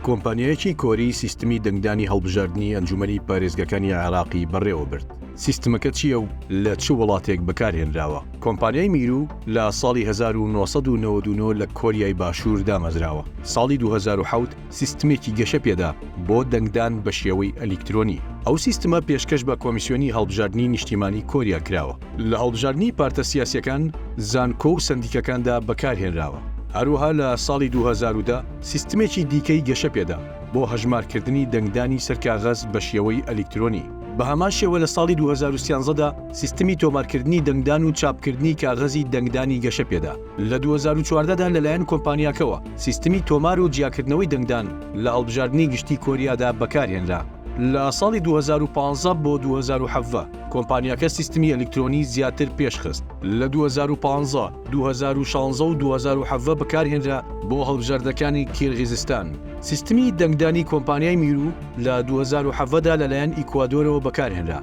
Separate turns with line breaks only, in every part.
کۆمپانیایەکی کۆری سیستمی دەنگدانی هەڵبژاردنی ئەنجومەنی پارێزگەکانی عێراقی بەڕێوەبرد، سیستمەکە چییە و لە چ وڵاتێک بەکارهێنراوە؟ کۆمپانیای میرو لە ساڵی هەزار و نۆ سەد و نەوەد و نۆ لە کۆریای باشوور دامەزراوە، ساڵی دوو هەزار و حەوت سیستمێکی گەشە پێدا بۆ دەنگدان بە شێوەی ئەلیکترۆنی. ئەو سیستمە پێشکەش بە کۆمیسیۆنی هەڵبژاردنی نیشتیمانی کۆریا کراوە. لە هەڵبژاردنی پارتە سیاسیەکان، زانکۆ و سەندیکەکاندا بەکارهێنراوە. هەروەها لە ساڵی دوو هەزار و دە سیستمێکی دیکەی گەشە پێدا بۆ هەژمارکردنی دەنگدانی سەر کاغەز بە شێوەی ئەلیکترۆنی. بە هەمان شێوە لە ساڵی دوو هەزار و سیانزە دا سیستمی تۆمارکردنی دەنگدان و چاپکردنی کاغەزی دەنگدانی گەشە پێدا. لە دوو هەزار و چواردە دا لەلایەن کۆمپانیاکەوە سیستمی تۆمار و جیاکردنەوەی دەنگدان لە هەڵبژاردنی گشتی کۆریادا بەکارهێنرا. لە ساڵی دوو هەزار و پازدە بۆ دوو هەزار و حەڤدە کۆمپانیاکە سیستمی ئەلیکترۆنی زیاتر پێشخست، لە دوو هەزار و پازدە، دوو هەزار و شازدە و دوو هەزار و حەڤدە بەکارهێنرا بۆ هەڵبژاردنەکانی کیرغیزستان. سیستمی دەنگدانی کۆمپانیای میرو لە دوو هەزار و حەڤدە لەلایەن ئیکوادۆرەوە بەکارهێنرا.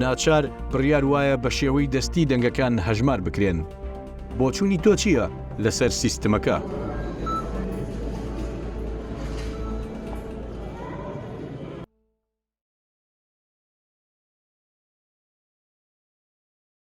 ناچار بڕیار وایە بە شێوەی دەستی دەنگەکان هەژمار بکرێن. بۆچوونی تۆ چییە لەسەر سیستمەکە؟